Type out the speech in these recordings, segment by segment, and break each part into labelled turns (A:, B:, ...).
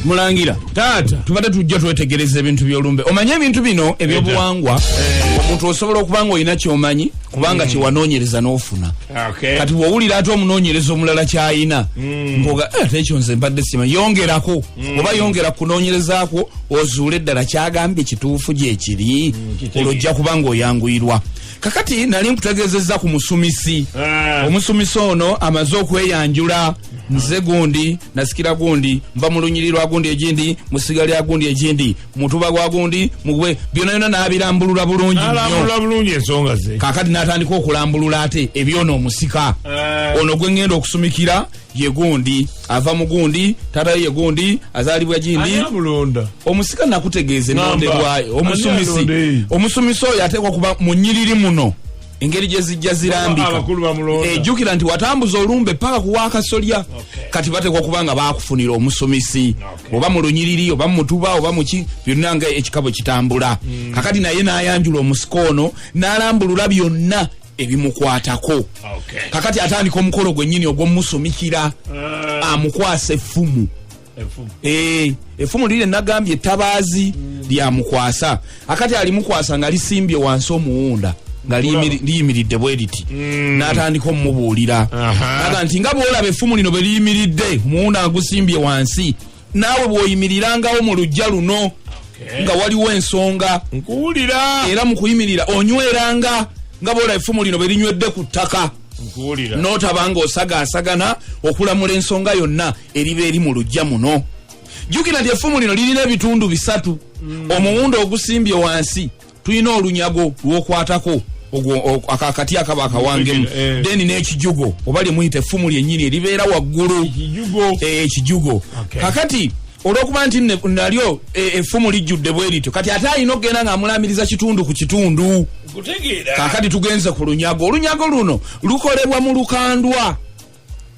A: mulangira taata
B: tubadde tujja twetegereza
A: ebintu byolumbe omanye ebintu bino ebyobuwangwa eh. omuntu osobola okuba nga olina kyomanyi kubanga mm. kyewanoonyereza n'ofuna kati bwowulira ate omunoonyereza omulala kyayina mm. mpoga eh, ate ekyo nze mbadde sima yongerako mm. oba yongera kunoonyerezakwo ozuule eddala kyagambye kituufu gyekiri olwo ojja kuba nga oyanguyirwa kakati nali nkutegezeza ku musumisi ah. omusumisi ono amaze okweyanjula nze gundi nasikira gundi nva mu lunyiri lwa gundi egindi musiga lya gundi egindi mutuba gwa gundi mugwe byona yona nabirambulula bulungi
B: kakati natandika
A: okulambulula ate ebyona omusika eh. ono gwengenda okusumikira ye gundi ava mu gundi taata ye gundi azaalibwa gindi omusika nakutegeeza ennonde bwayo omusumisi omusumisi oyo ateekwa kuba mu nyiriri muno engeri gye zijja zirambika ejjukira eh, nti watambuza olumbe paka kuwa akasolya kati bateekwa kuba nga baakufunira omusumisi oba mu lunyiriri oba mumutuba oba muki byonna nga ekikabo kitambula hmm. kakati naye n'ayanjula omusika ono n'alambulula byonna ebimukwatako okay. kakati atandika omukolo gwenyini ogwomusumikira uh, amukwasa effumu eh, effumu e, liri nagambye etabaazi mm. lyamukwasa akati alimukwasa nga lisimbye wansi omuwunda nga liyimiridde bwe liti mm. natandika omumubuulira aga nti nga bwolaba effumu lino bwe liyimiridde omuwunda agusimbye wansi naawe bw'oyimirirangao mu lujja luno nga waliwo ensonga nkuwulira
B: era mu kuyimirira
A: onyweranga nga boola effumu lino bwe linywedde ku ttaka nkuwulira n'otaba ng'osagaasagana okulamula ensonga yonna eriba eri mu lujja muno jjukira nti effumu lino lirina ebitundu bisatu omuwundo ogusimbye wansi tulina olunyago lwokwatako akakati akaba akawangemu eh. deni n'ekijugo oba lyemuyita effumu lyennyini eribeera waggulu ekijugo eh, kakati olwokuba nti nalyo eh, effumu lijjudde bwe lityo kati ate alina okugenda ng'amulaamiriza kitundu ku kitundu kakati tugenze ku lunyago olunyago luno lukolebwa mu lukandwa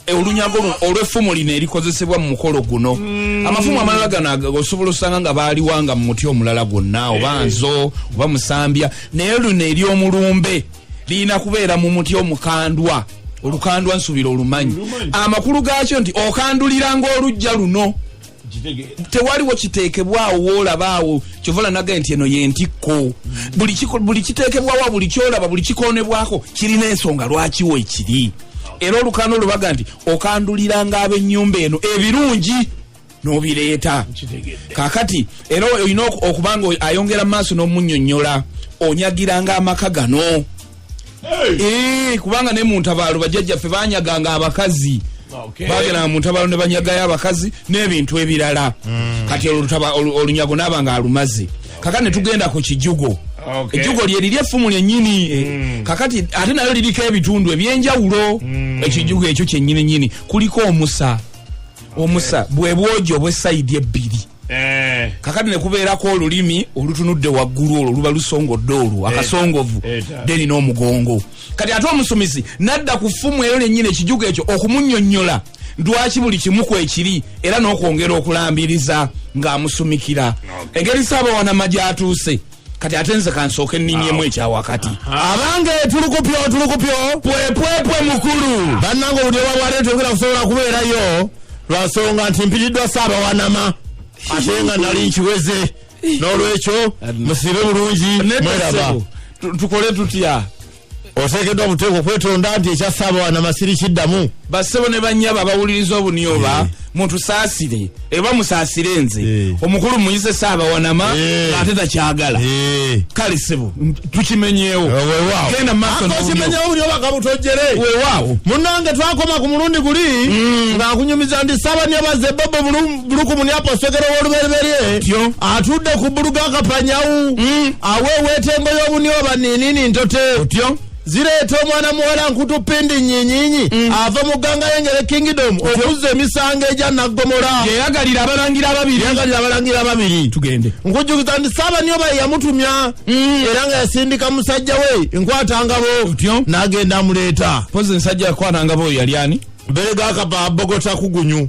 A: Eh, olunyago luno olweffumu lino erikozesebwa mu mukolo guno mm. amafumu amalala gano osobola osanga nga baaliwanga mu muti omulala gwonna oba eh. nzo oba musambya naye luno ery'omulumbe lirina kubeera mu muti omukandwa olukandwa nsubira olumanyi amakulu gaakyo nti okanduliranga olujja luno tewaliwo kiteekebwawo woolabaawo kyovala nagaye nti eno yentikko buli kiteekebwawo buli kyolaba buli kikoonebwako kirina ensonga lwakiwo ekiri era olukano lubaga nti okanduliranga ab'ennyumba eno ebirungi nobireeta kakati era olina okubanga ayongera mu maaso n'omunyonyola onyagiranga amaka gano Eh, kubanga ne mu ntabaalo bajjajjaffe banyaganga abakazi bageranga mu ntabaalo ne banyagayo abakazi n'ebintu ebirala hmm. kati olunyago naaba nga alumaze kaka ne tugenda ku kijugo ejjugo lye liri effumu lyennyini eh, hmm. kakati ate nayo liriko ebitundu ebyenjawulo hmm. ekijugo ekyo kyennyini nyini kuliko omusa omusa bwe bwogi obw'esayidi ebbiri Eh. kakati nekubeerako olulimi olutunudde waggulu olwo luba lusongodde olwo akasongovu deni n'omugongo kati ate omusumizi nadda ku ffumu eyo nenyini ekijugo ekyo okumunyonyola lwaki buli kimu kwekiri era n'okwongera okulambiriza ng'amusumikira engeri saabawanama gyatuuse kati ate nze kansooke nninyemu ekyawakati abange tulukupyo tulukupyo pwepwepwe mukulu bannanga obudde bwabwate tugera kusobola kubeerayo lwasonga nti mpitiddwa saabawanama ate nga nali nkiweze n'olwekyo musibe bulungi mweraba tukole tutya oteekeddwa mu teeka okwetonda nti ekyasaaba wanamasiri kiddamu basebo ne banyabo abawuliriza obuni oba eh. mutusaasire eba musaasire nze eh. omukulu muyise saaba wanama eh. ate takyagala kale sebo tukimenyewo munange twakoma ku mulundi guli mm. ng'akunyumiza ndi saaba nyabaze bobo bulungi Buluku Munyapa Segera w'olubereberye Atyo. atudde ku bbulu ga Kapanyawu Mm. aweeweeta engo y'obunyoba niinini ntote otyo zireeta omwana muwala nkutu pindi nyinyinyi Mm. ava mu gganga y'engere kingdom okuzza emisango egya naggomola yeyagalira abalangira ababiri yagalira abalangira ababiri tugende nkujjukiza nti saabanyoba ye yamutumya Mm. era nga yasindika musajja we enkwatangabo Otyo. n'agenda amuleeta pozi nsajja yakwanangabo oyo yali ani beregakaba bogota kugunyu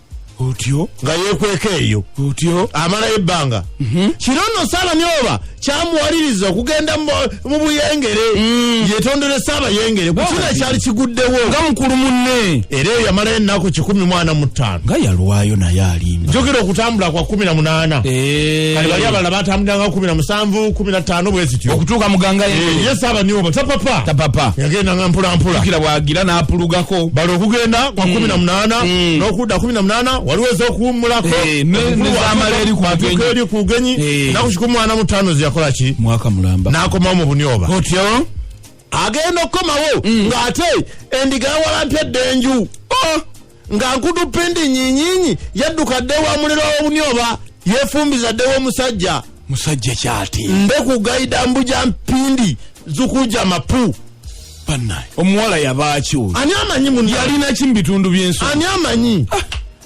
C: otyo
A: nga yekweka
C: eyo otyo amalayo
A: ebbanga
C: mhm. kino nno saalani oba kyamuwaliriza okugenda mu buyengere mm. yetondere saabayengere kukino ekyali kiguddewo nga mukulu munne
A: era eyo yamalayo ennaku
C: kikumi mwana mu ttaano nga yalwayo
A: naye alimba njogera okutambula kwa
C: kumi na munaana eh. kali bali abalala batambuliranga kumi na musanvu kumi na ttaano bwe zityo okutuuka muganga
A: ye eh, saabani oba
C: tapapa tapapa yagendanga mpolampola kira bwagira
A: n'apulugako bali okugenda
C: kwa mm. kumi na munaana mm. n'okudda kumi na munaana waliwo ez'okuwummulako eh, nezamala
A: eri eri ku bugenyi eh.
C: naku kikumi mwana mutaano zeyakola ki mwaka mulamba n'akomawo
A: mu bunyoba
C: otyo
A: agenda
C: okukomawo mm. ng'ate endiga yawalampya edda enju oh! nga nkudu pindi nyinyinyi yadduka dde wa muliro w'obunyoba yefumbiza dde w'omusajja musajja kyati
A: nde ku gaida
C: mbuja mpindi zukuja mapu banaye
A: omuwala yabaaki oyo ani amanyi mu
C: yalina ki mu bitundu
A: byensi ani amanyi
C: ah.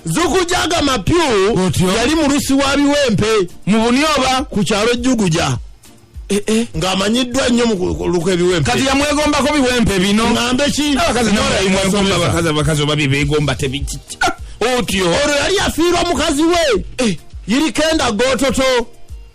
C: zukujaga mapyu yali mulusi wa biwempe mu bunyoba
A: ku kyalo juguja
C: eh, eh. ng'amanyiddwa nnyo muluku ebiwempe kati yamwegombako
A: biwempe bino ngambe ki abakazi oba byebegomba tebiki ah, otyo olwo yali yafiirwa
C: mukazi we eh. yirikenda gototo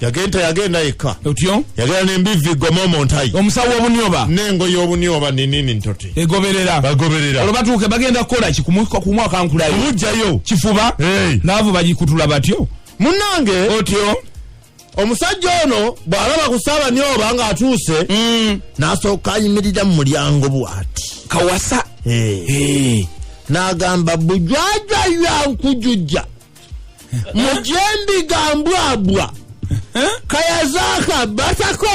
C: yagenda yagenda yekka otyo yagenda
A: nembivvi
C: goma omuntayi omusawo wobunyoba
A: nengo yobunyoba
C: ninini ntoti egoberera bagoberera olwo batuuke bagenda
A: kukola ki kumwaka nkulayo obujjayo kifuba laavu bagikutula batyo munange
C: otyo
A: omusajja
C: ono bw'alaba ku saabanyoba ng'atuuse mm. n'asooka ayimirira mu mulyango bw'ati kawasa n'agamba bujwajwa yankujujja mujendiga mbwabwa kayazaka batako